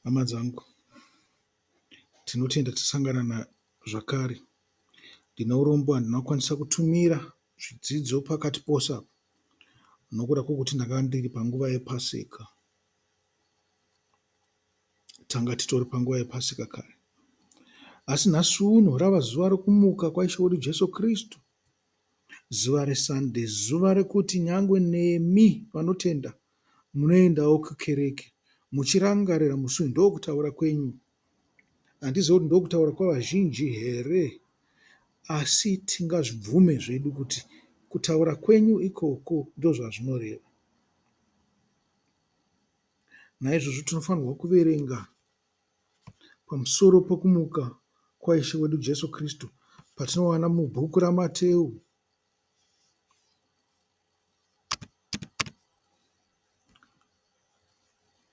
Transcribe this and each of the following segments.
Hama dzangu tinotenda tasangana na zvakare. Ndine urombo handina kukwanisa kutumira zvidzidzo pakati pose apa nokuda kwokuti ndanga ndiri panguva yePaseka. Tanga titori panguva yePaseka kare. Asi nhasi uno rava zuva rokumuka kwaIshe wedu Jesu Kristu. zuva reSunday zuva rekuti nyangwe nemi vanotenda munoendawo kukereke muchirangarira musi uyu. Ndokutaura kwenyu. Handizive kuti ndokutaura kwavazhinji here asi tingazvibvume zvedu kuti kutaura kwenyu ikoko ndozvazvinoreva. Naizvozvo tinofanirwa kuverenga Pamusoro pokumuka kwaIshe wedu Jesu Kristu patinowana mubhuku raMateu.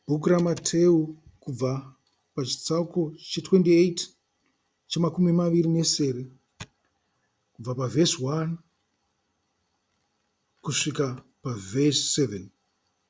Bhuku raMateu kubva pachitsauko che28 chemakumi maviri nesere kubva pavhesi 1 kusvika pavhesi 7.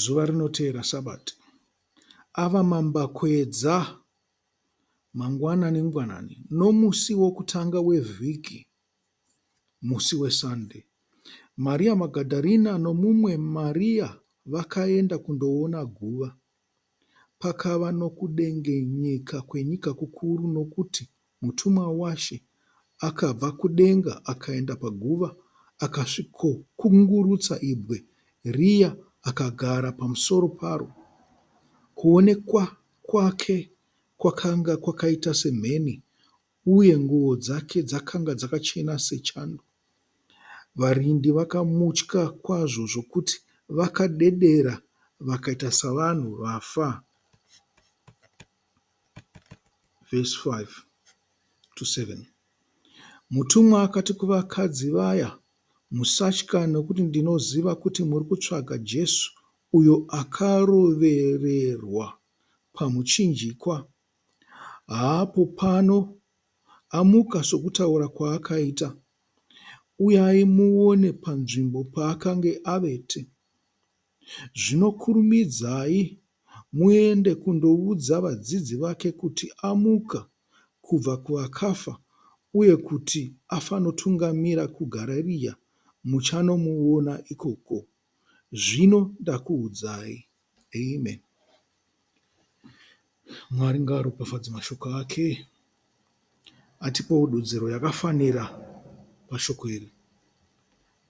Zuva rinoteera Sabati, ava mambakwedza mangwanani-ngwanani nomusi wokutanga wevhiki, musi weSande, Maria Magadharina nomumwe Maria vakaenda kundoona guva. Pakava nokudengenyeka kwenyika kukuru, nokuti mutumwa waShe akabva kudenga akaenda paguva akasvikokungurutsa ibwe riya akagara pamusoro paro. Kuonekwa kwake kwakanga kwakaita semheni, uye nguo dzake dzakanga dzakachena sechando. Varindi vakamutya kwazvo zvokuti vakadedera vakaita savanhu vafa. Verse 5 to 7. Mutumwa akati kuvakadzi vaya, Musatya, nokuti ndinoziva kuti muri kutsvaga Jesu uyo akarovererwa pamuchinjikwa haapo pano, amuka sokutaura kwaakaita, uyai muone panzvimbo paakange avete. Zvino kurumidzai muende kundoudza vadzidzi vake kuti amuka kubva kuvakafa uye kuti afanotungamira kuGarariya, muchanomuona ikoko. Zvino ndakuudzai. Amen. Mwari ngaaropafadze mashoko ake atipowo dudziro yakafanira pashoko iri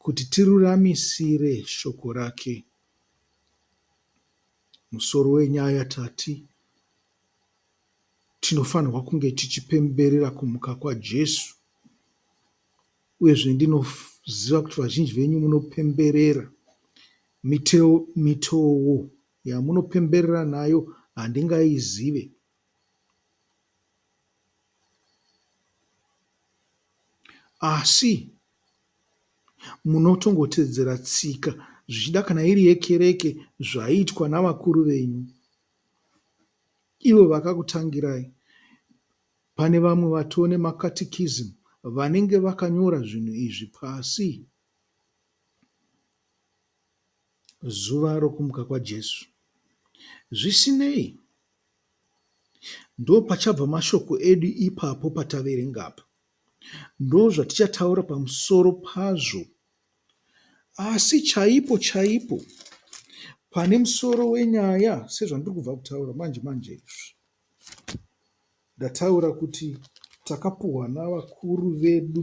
kuti tiruramisire shoko rake. Musoro wenyaya tati tinofanirwa kunge tichipemberera kumuka kwaJesu. Uyezve ndinoziva kuti vazhinji venyu munopemberera miteo, mitoo yamunopemberera nayo handingaizive. Asi munotongotedzera tsika zvichida kana iri yekereke zvaiitwa navakuru venyu ivo vakakutangirai Pane vamwe vatone maCatechism vanenge vakanyora zvinhu izvi pasi. Zuva rokumuka kwaJesu. Zvisinei, ndopachabva mashoko edu ipapo pataverenga apa. Ndozvatichataura pamusoro pazvo. Asi chaipo chaipo pane musoro wenyaya sezvandiri kubva kutaura manje manje izvi, Ndataura kuti takapuhwa navakuru vedu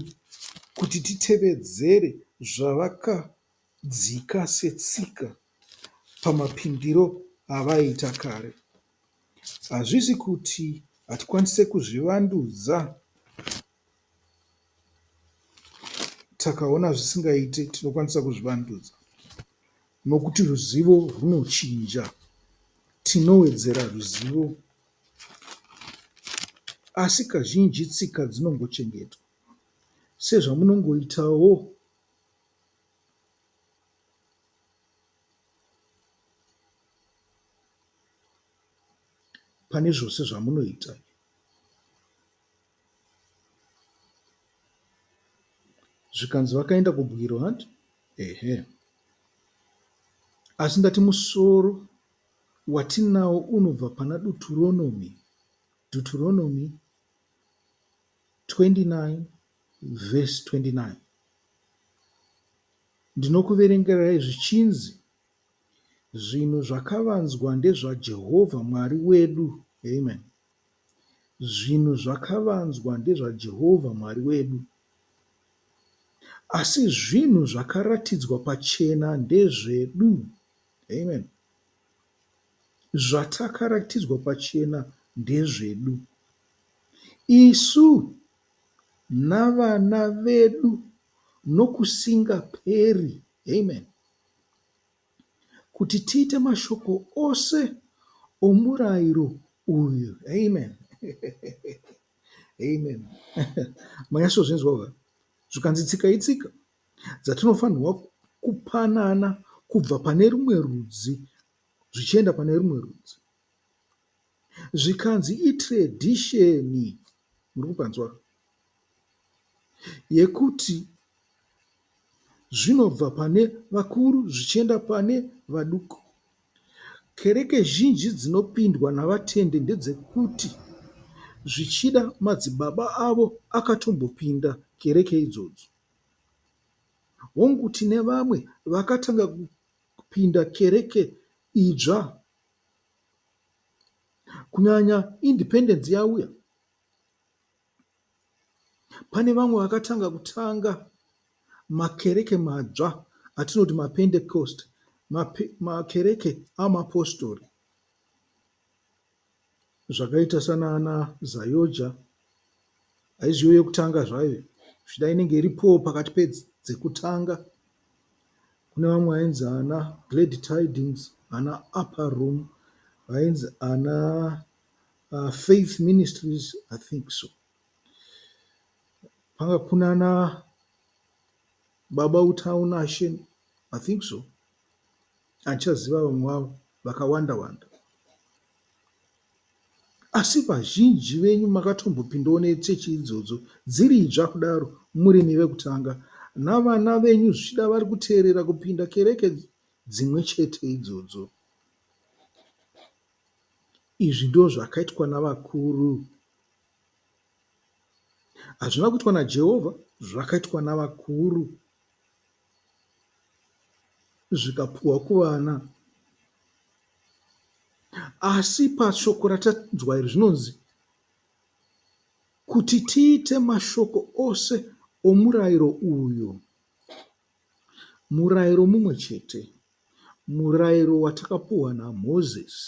kuti titevedzere zvavakadzika setsika pamapindiro avaiita kare. Hazvisi kuti hatikwanise kuzvivandudza takaona zvisingaite tinokwanisa kuzvivandudza nokuti ruzivo rwunochinja tinowedzera ruzivo asi kazhinji tsika dzinongochengetwa sezvamunongoitawo pane zvose zvamunoita Zvikanzi vakaenda kubwiro hanti ehe asi ndati musoro watinawo unobva pana Duturonomy Deuteronomy 29 verse 29 ndinokuverengerai zvichinzi zvinhu zvakavanzwa ndezvaJehovha Mwari wedu amen Zvinhu zvakavanzwa ndezvaJehovha Mwari wedu, asi zvinhu zvakaratidzwa pachena ndezvedu. Amen. Zvatakaratidzwa pachena ndezvedu. Isu navana vedu nokusingaperi. Amen. kuti tiite mashoko ose omurairo uyu. Amen. Amen. Manyasozvinzwa zvikanzi tsika itsika dzatinofanirwa kupanana kubva pane rumwe rudzi zvichienda pane rumwe rudzi. zvikanzi itradition murikunzwa yekuti zvinobva pane vakuru zvichienda pane vaduku. Kereke zhinji dzinopindwa navatendi ndedzekuti zvichida madzibaba avo akatombopinda kereke idzodzo. Hongu tine vamwe vakatanga kupinda kereke idzva Kunyanya independence yauya pane vamwe vakatanga kutanga makereke madzva atinoti mapentecost makereke amapostori zvakaita sanana zayoja Aizviyo yekutanga zvayo zvichida inenge iripo pakati pedzekutanga. Kune vamwe vainzi ana Glad Tidings, ana Upper Room, vainzi ana uh, Faith Ministries, I think so. Panga kuna na Baba Utaunashe, I think so. Achaziva vamwe vavo vakawanda-wanda. Asi vazhinji venyu makatombopindawo nechechi idzodzo dziri idzva kudaro murimi vekutanga, navana venyu zvichida vari kuteerera kupinda kereke dzimwe chete idzodzo. Izvi ndozvakaitwa navakuru. Hazvina kuitwa naJehovha, zvakaitwa navakuru. zvikapuhwa kuvana asi pashoko ratanzwa iri zvinonzi kuti tiite mashoko ose omurayiro uyu, murayiro mumwe chete, murayiro watakapuhwa naMozisi.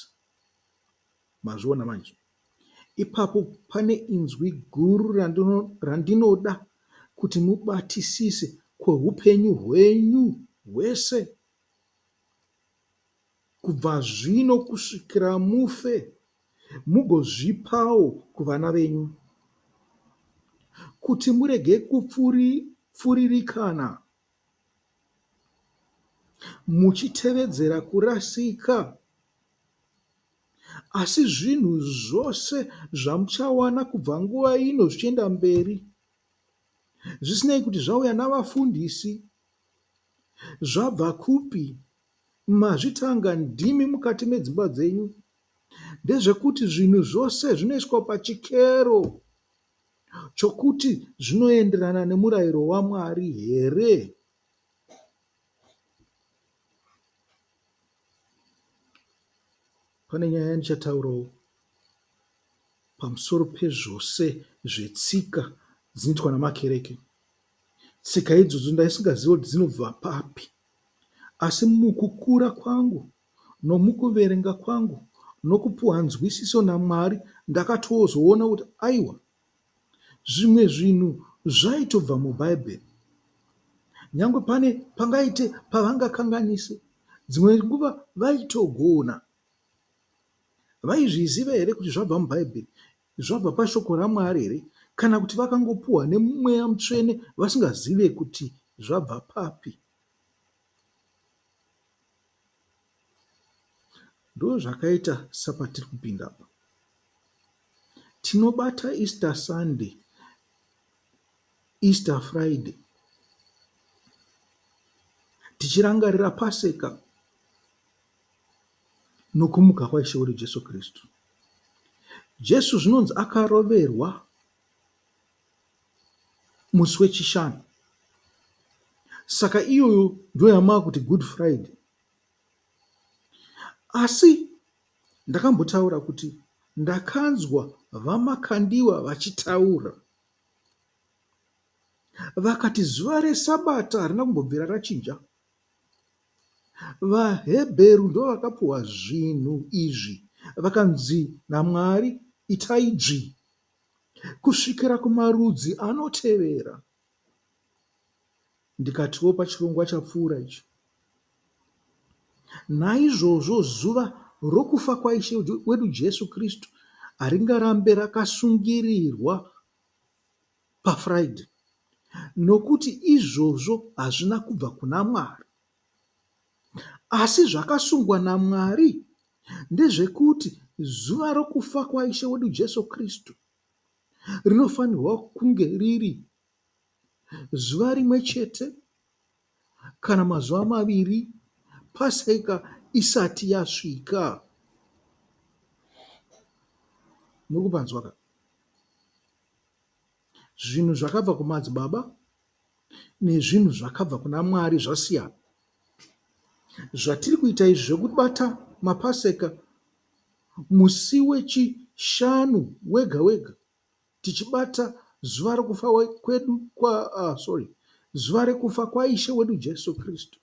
Mazviona manje? Ipapo pane inzwi guru randinoda kuti mubatisise kwehupenyu hwenyu hwese, kubva zvino kusvikira mufe, mugozvipawo kuvana venyu, kuti murege kupfuririkana. muchitevedzera kurasika, asi zvinhu zvose zvamuchawana kubva nguva ino zvichienda mberi, zvisinei kuti zvauya navafundisi, zvabva kupi, mazvitanga ndimi mukati medzimba dzenyu, ndezvekuti zvinhu zvose zvinoiswa pachikero. chokuti zvinoenderana nemurayiro waMwari here? Pane nyaya yandichataurawo pamusoro pezvose zvetsika dzinoitwa namakereke. Tsika idzodzo ndaisingazivi kuti dzinobva papi, asi mukukura kwangu nomukuverenga kwangu nokupuhwa nzwisiso naMwari ndakatozoona kuti aiwa zvimwe zvinhu zvaitobva muBhaibheri nyangwe pane pangaite pavangakanganise dzimwe nguva vaitogona vaizviziva here kuti zvabva mubhaibheri zvabva pashoko ramwari here kana kuti vakangopuhwa nemweya mutsvene vasingazive kuti zvabva papi Ndozvakaita sapatiri kupinda apa. Tinobata Easter Sunday, Easter Friday tichirangarira Paseka nokumuka kwaIshe wedu Jesu Kristu. Jesu zvinonzi akaroverwa musi weChishanu. Saka iyoyo ndiyo yamava kuti Good Friday. Asi ndakambotaura kuti ndakanzwa VaMakandiwa vachitaura vakati zuva reSabata harina kumbobvira rachinja. VaHebheru ndivo vakapuhwa zvinhu izvi vakanzi naMwari itai dzvi kusvikira kumarudzi anotevera. Ndikatiwo pachirongwa chapfuura icho, naizvozvo zuva rokufa kwaIshe wedu Jesu Kristu haringarambe rakasungirirwa paFriday, nokuti izvozvo hazvina kubva kuna Mwari. Asi zvakasungwa naMwari ndezvekuti zuva rokufa kwaIshe wedu Jesu Kristu rinofanirwa kunge riri zuva rimwe chete kana mazuva maviri Paseka isati yasvika. Muri kupanzwa ka? Zvinhu zvakabva kumadzibaba nezvinhu zvakabva kuna Mwari zvasiyana. Zvatiri kuita izvi zvekubata maPaseka musi weChishanu wega wega tichibata zuva rekufa kwedu kwa, uh, sorry zuva rekufa kwaIshe wedu Jesu Kristu,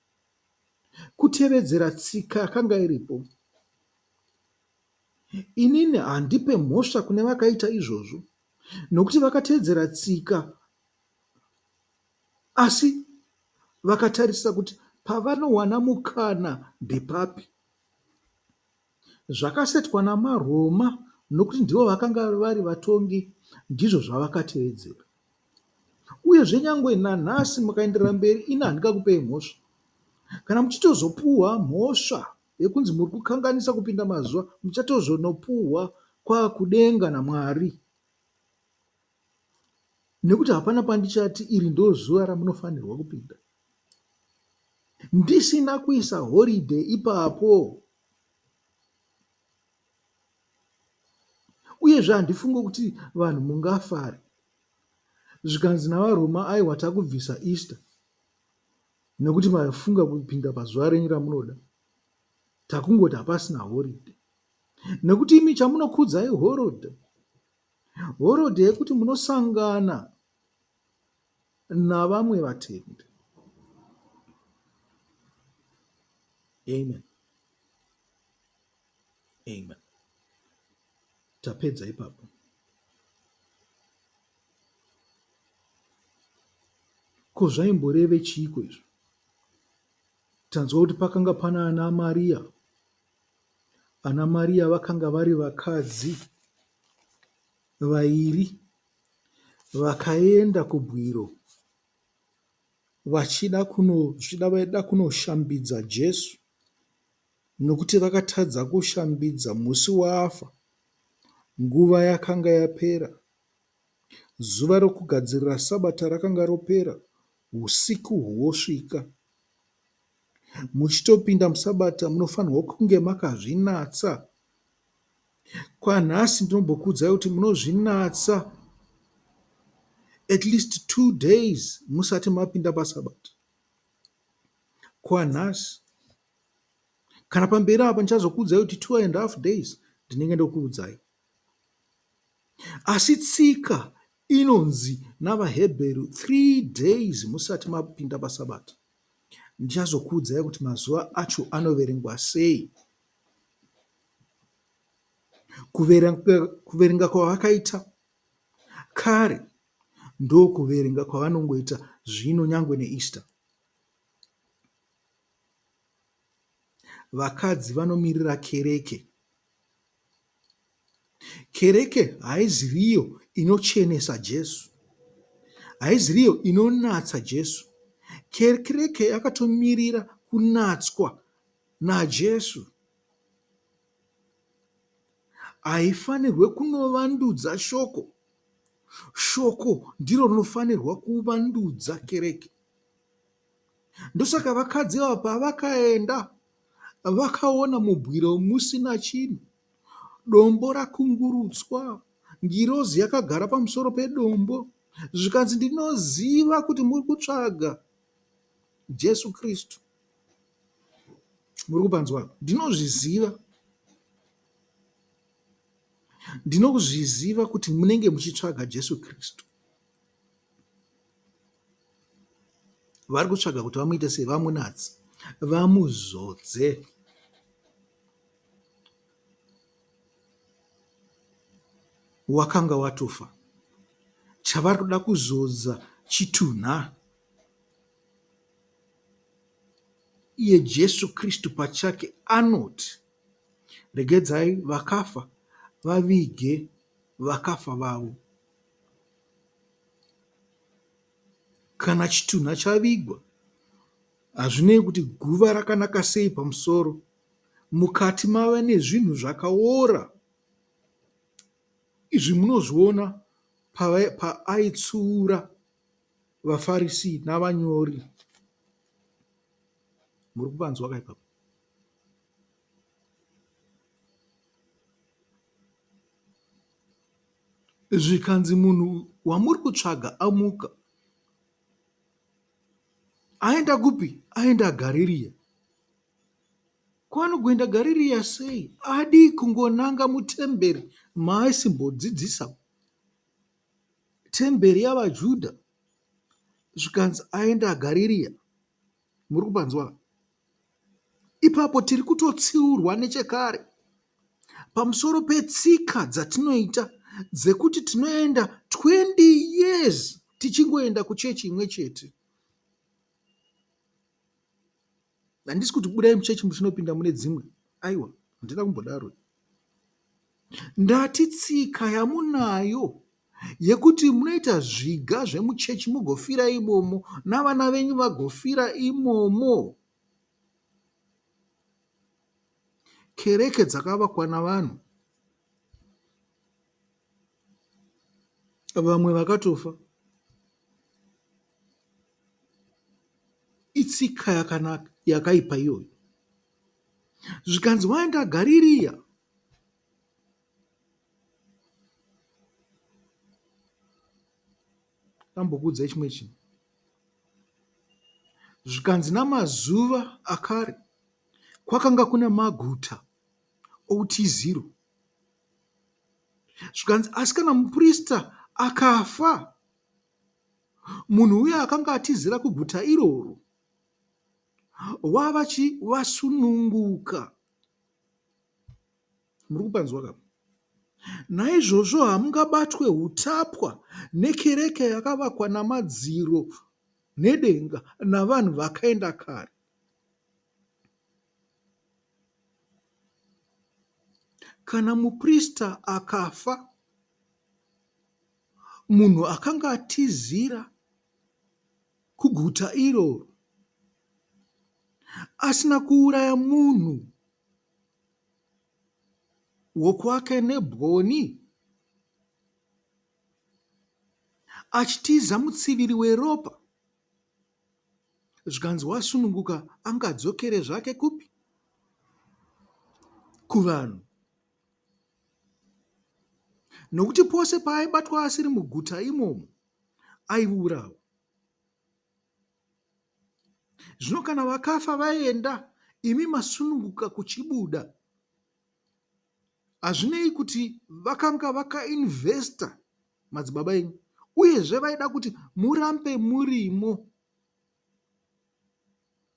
kutevedzera tsika yakanga iripo. Inini handipe mhosva kune vakaita izvozvo, nokuti vakatevedzera tsika Asi vakatarisa kuti pavanowana mukana ndepapi. Zvakasetwa namaRoma, nokuti ndivo vakanga vari vatongi, ndizvo zvavakatevedzera. Uyezve nyangwe nanhasi mukaenderera mberi ini handingakupei mhosva. Kana muchitozopuhwa mhosva yekunzi muri kukanganisa kupinda mazuva, muchatozonopuhwa kwakudenga naMwari. nekuti hapana pandichati iri ndozuva ramunofanirwa kupinda ndisina kuisa horide ipapo uyezve handifunge kuti vanhu mungafari zvikanzi navaroma aiwa takubvisa easter nekuti mafunga kupinda pazuva renyu ramunoda takungoti hapasina horide nekuti imi chamunokudza ihorode Horodhe yekuti munosangana navamwe vatendi. Amen. Amen. Tapedza ipapo. Ko zvaimboreve chiiko izvo? Tanzwa kuti pakanga pana ana Maria Ana Mariya vakanga vari vakadzi vairi vakaenda kubwiro vachida kuno zvichida vaida kunoshambidza Jesu nokuti vakatadza kushambidza musi waafa nguva yakanga yapera Zuva rokugadzirira Sabata rakanga ropera, usiku hwosvika. Muchitopinda muSabata munofanirwa kunge makazvinatsa. Kwanhasi ndinombokuudzai kuti munozvinatsa at least two days musati mapinda paSabata. Kwanhasi kana pamberi apa ndichazokuudzai kuti two and half days ndinenge ndokuudzai. Asi tsika inonzi navaHebheru, three days musati mapinda paSabata. Ndichazokuudzai kuti mazuva acho anoverengwa sei. Kuverenga kwavakaita kare ndokuverenga kwavanongoita zvino nyangwe neEaster. Vakadzi vanomirira kereke Kereke haiziri iyo inochenesa Jesu. Haiziri iyo inonatsa Jesu. Kereke yakatomirira kunatswa naJesu. Haifanirwe kunovandudza shoko. Shoko ndiro rinofanirwa kuvandudza kereke. Ndosaka vakadzi ava pavakaenda vakaona mubwiro musina chinhu, dombo rakungurutswa, ngirozi yakagara pamusoro pedombo, zvikanzi ndinoziva kuti muri kutsvaga Jesu Kristu. Muri kupanzwa? Ndinozviziva. Ndinozviziva kuti munenge muchitsvaga Jesu Kristu. vari kutsvaga kuti vamuite sei vamunatse vamuzodze wakanga watofa chavari kuda kuzodza chitunha iye jesu kristu pachake anoti regedzai vakafa vavige vakafa vavo Kana chitunha chavigwa, hazvinei kuti guva rakanaka sei pamusoro, mukati mave nezvinhu zvakaora. Izvi munozviona paaitsuura vaFarisi navanyori. Muri kupanzwa ka ipapo? zvikanzi munhu wamuri kutsvaga amuka aenda kupi aenda gaririya kwaanogoenda gaririya sei adii kungonanga mutemberi maaisimbodzidzisa temberi yavajudha zvikanzi aenda gaririya muri kupanzwa Ipapo tiri kutotsiurwa nechekare pamusoro petsika dzatinoita dzekuti tinoenda 20 years tichingoenda kuchechi imwe chete. Handisi kuti budai muchechi muchinopinda mune dzimwe, aiwa, handina kumbodaro. Ndati tsika yamunayo yekuti munoita zviga zvemuchechi mugofira imomo navana venyu vagofira imomo. Kereke dzakavakwa navanhu, vamwe vakatofa. Itsika yakanaka yakaipa iyoyo. Zvikanzi waenda Gaririya Ndambokuudzai chimwe chinhu zvikanzi namazuva akare kwakanga kuna maguta outiziro zvikanzi asi kana muprista akafa munhu uya akanga atizira kuguta iroro wavachi vasununguka Muri kupanzwa ka? Naizvozvo hamungabatwe hutapwa nekereke yakavakwa namadziro nedenga navanhu vakaenda kare. Kana muprista akafa, munhu akanga atizira kuguta iroro asina kuuraya munhu wokwake nebwoni achitiza mutsiviri weropa zvikanzi wasununguka angadzokere zvake kupi kuvanhu nokuti pose paaibatwa asiri muguta imomo aiurawa Zvino kana vakafa vaenda, imi masununguka kuchibuda. Hazvinei kuti vakanga vakainvesta madzibaba enyu, uyezve vaida kuti murambe murimo.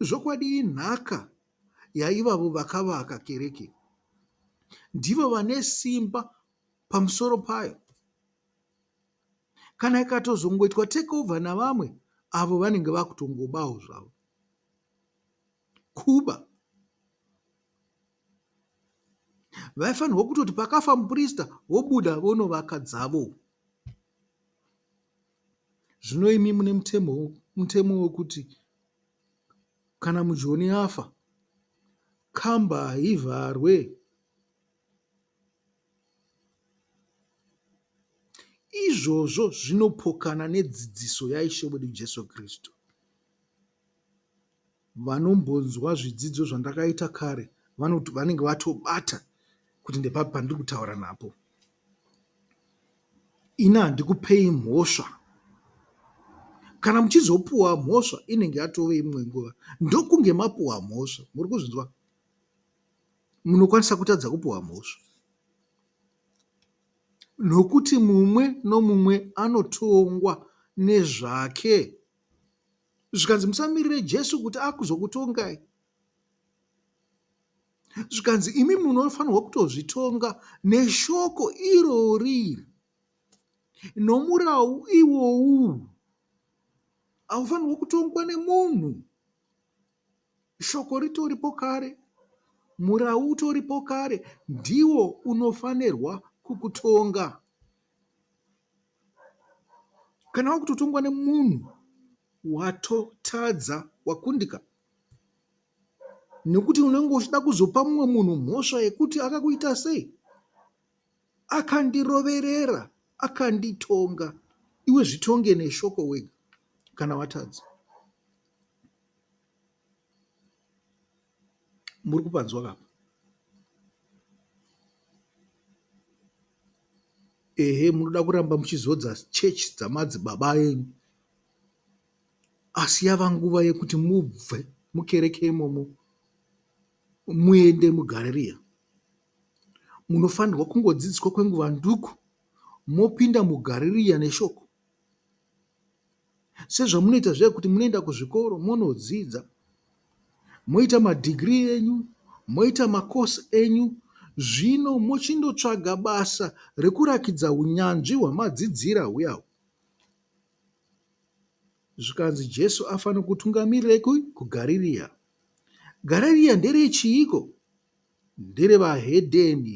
Zvokwadi inhaka yaivavo vakavaka kereke, ndivo vane simba pamusoro payo. kana ikatozongoitwa take over navamwe avo vanenge vakutongobawo zvavo kuba vaifanirwa kutoti pakafa muprista vobuda vonovaka dzavo zvino imi mune mutemo mutemo wekuti kana mujoni afa kamba haivharwe Izvozvo zvinopokana nedzidziso yaIshe wedu Jesu Kristu. Vanombonzwa zvidzidzo zvandakaita kare vanenge vatobata kuti ndepapi pandiri kutaura napo. Ini handikupei mhosva. Kana muchizopuwa mhosva inenge yatove imwe nguva ndokunge mapuwa mhosva. Muri kuzvinzwa? munokwanisa kutadza kupiwa mhosva nokuti mumwe nomumwe anotongwa nezvake. Zvikanzi musamirire Jesu kuti akuzokutongai. Zvikanzi imi munofanirwa kutozvitonga neshoko irori nomurau iwowu. Haufanirwe kutongwa nemunhu. Shoko ritoripo kare, murau utoripo kare, ndiwo unofanirwa kukutonga. Kana wakutotongwa nemunhu watotadza, wakundika, nekuti unenge uchida kuzopa mumwe munhu mhosva yekuti akakuita sei, akandiroverera, akanditonga. Iwe zvitonge neshoko wega kana watadza. Muri kupanzwa ka apa? Ehe munoda kuramba muchizodza church dzamadzibaba enyu asi yava nguva yekuti mubve mukereke imomo muende mugareriya. Munofanirwa kungodzidziswa kwenguva nduku mopinda mugareriya neshoko Sezvamunoita zviya kuti munoenda kuzvikoro monodzidza moita madhigirii enyu, moita makosi enyu zvino mochindotsvaga basa rekurakidza hunyanzvi hwamadzidzira huya uhu. Zvikanzi Jesu afanira kutungamirirai kupi? KuGarirea. Garirea nderechiiko? Nderevahedheni.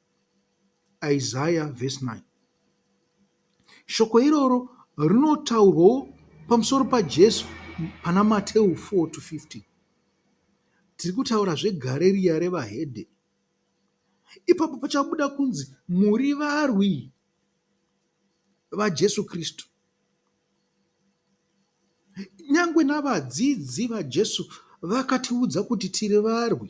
Isaya vhesi 9. Shoko iroro rinotaurwawo pamusoro paJesu pana Mateu 4 to 15. Tiri kutaura zvegare riya revahedhe. Ipapo pachabuda kunzi muri varwi vaJesu Kristu. Nyangwe navadzidzi vaJesu vakatiudza kuti tiri varwi.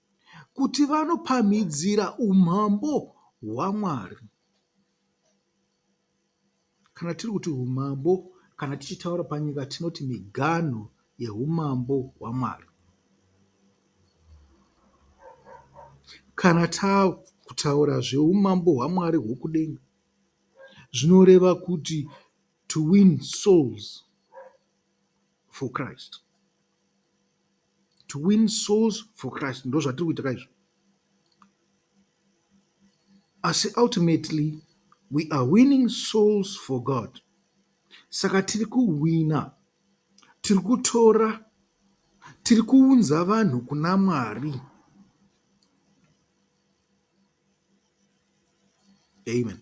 kuti vanopamhidzira umambo hwaMwari. Kana tiri kuti umambo, kana tichitaura panyika tinoti miganhu yeumambo hwaMwari. Kana takutaura zveumambo hwaMwari hwokudenga, zvinoreva kuti to win souls for Christ. to win souls for Christ ndozvatiri kuita ka izvo asi ultimately we are winning souls for God saka tiri kuwina tiri kutora tiri kuunza vanhu kuna Mwari amen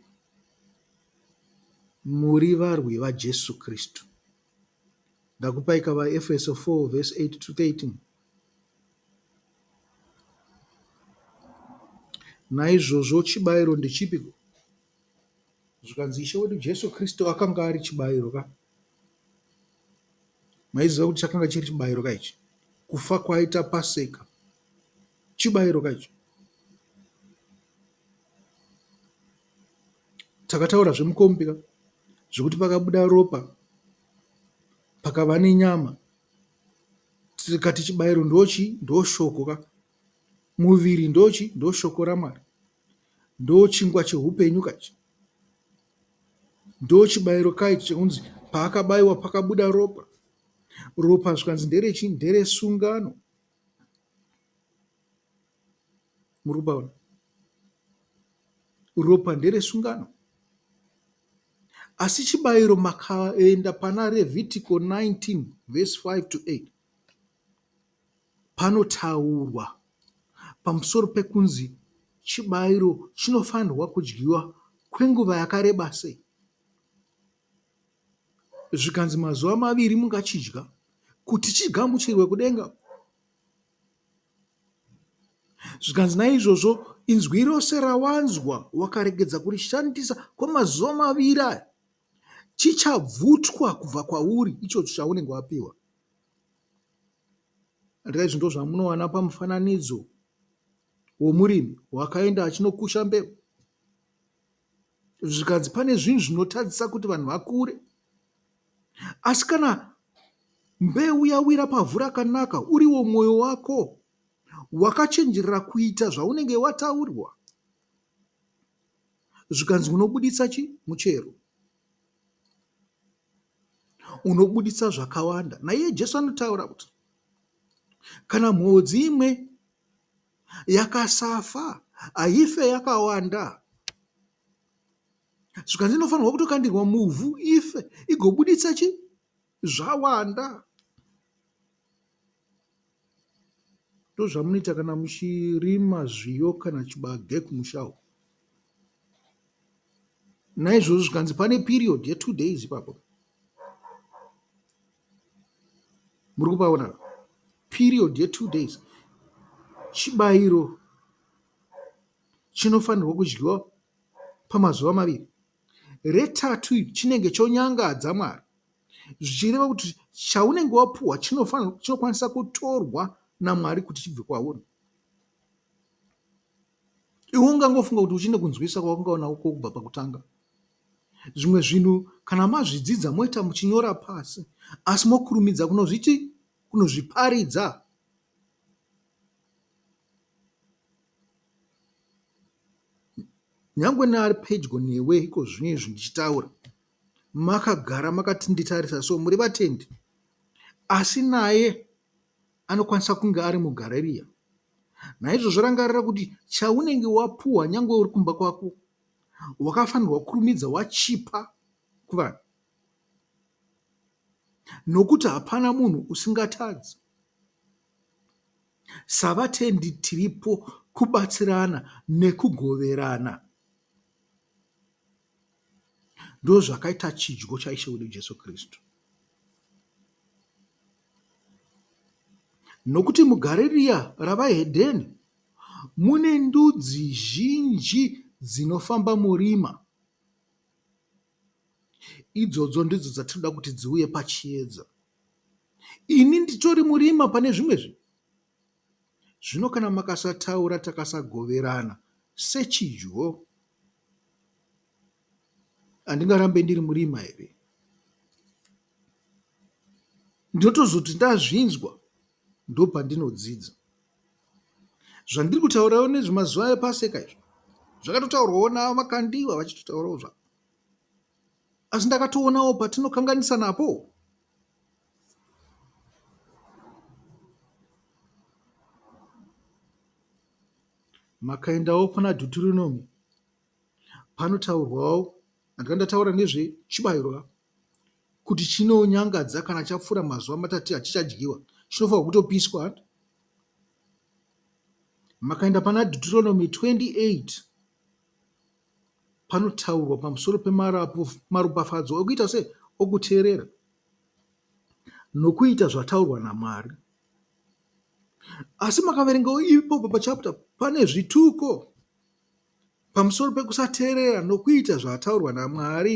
muri varwi vaJesu Kristu Ndakupai ka vaEfeso 4 verse 8 to 13. Naizvozvo chibayiro ndechipi? Zvikanzi Ishe wedu Jesu Kristu akanga ari chibayiro ka. Maiziva kuti chakanga chiri chibayiro ka ichi? Kufa kwaita Paseka Chibairo ka icho. Takataura zvemukombi ka zvekuti pakabuda ropa pakava nenyama tikati chibairo ndochi ndoshoko ka muviri ndochi ndoshoko ramwari ndochingwa cheupenyu ka ichi ndochibairo ka ichi chekunzi paakabaiwa pakabuda ropa ropa zvikanzi nderechi nderesungano Muri kupaona? Ropa nderesungano. Asi chibayiro makaenda pana Revhitiko 19 vhesi 5 to 8 panotaurwa pamusoro pekunzi chibayiro chinofanirwa kudyiwa kwenguva yakareba sei zvikanzi mazuva maviri mungachidya kuti chigamuchirwe kudenga. Zvikanzi naizvozvo inzwi rose rawanzwa wakaregedza kurishandisa kwemazuva maviri aya chichabvutwa kubva kwauri ichocho chaunenge wapiwa andika izvi ndo zvamunowana pamufananidzo womurimi wakaenda achinokusha mbeu zvikanzi pane zvinhu zvinotadzisa kuti vanhu vakure asi kana mbeu yawira pavhu rakanaka uriwo mwoyo wako wakachenjerera kuita zvaunenge wataurwa zvikanzi unobuditsa chi muchero unobuditsa zvakawanda naiye jesu anotaura kuti kana mhodzi imwe yakasafa haife yakawanda zvikanzi inofanirwa kutokandirwa muvhu ife igobuditsa chi zvawanda ndozvamunoita kana muchirima zviyo kana chibage kumusha uko naizvozvo zvikanzi pane period yetu days ipapo muri kupaona apa period ye two days chibayiro chinofanirwa kudyiwa pamazuva maviri retatu iri chinenge chonyangadza mwari zvichireva kuti chaunenge wapuhwa chinokwanisa kutorwa namwari kuti chibve kwauri Iwe ungangofunga kuti uchine kunzwisisa kwawanga unako kubva pakutanga. Zvimwe zvinhu kana mazvidzidza moita muchinyora pasi asi mokurumidza kunozviti kunozviparidza. Nyangwe neari pedyo newe iko zvino izvi ndichitaura makagara makatinditarisa so muri vatendi asi naye Anokwanisa kunge ari muGarariya. Naizvozvo rangarira kuti chaunenge wapuwa nyange uri kumba kwako wakafanirwa kukurumidza wachipa kuvanhu nokuti hapana munhu usingatadzi. Savatendi tiripo kubatsirana nekugoverana. Ndozvakaita chidyo chaIshe wedu Jesu Kristu. Nokuti mugare riya ravaHedheni mune ndudzi zhinji dzinofamba murima. Idzodzo ndidzo dzatinoda kuti dziuye pachiedza. Ini nditori murima pane zvimwe zvinhu. Zvino kana makasataura takasagoverana sechidyo handingarambe ndiri murima here? Ndinotozoti ndazvinzwa ndopandinodzidza. Zvandiri kutaurawo nezvemazuva epaseka izvo zvakatotaurwawo navo makandiwa vachitotaurawo zvavo asi ndakatoonawo patinokanganisa napo Makaendawo kuna Dhuturunomi panotaurwawo ndanga ndataura nezvechibayiro kuti chinonyangadza kana chapfuura mazuva matatu hachichadyiwa chinofanirwa kutopiswa hati makaenda pana Deuteronomy 28 panotaurwa pamusoro pemaropafadzo okuita se okuteerera nokuita zvataurwa naMwari. Asi makaverengawo ipopo pachapter pane zvituko pamusoro pekusateerera nokuita zvataurwa naMwari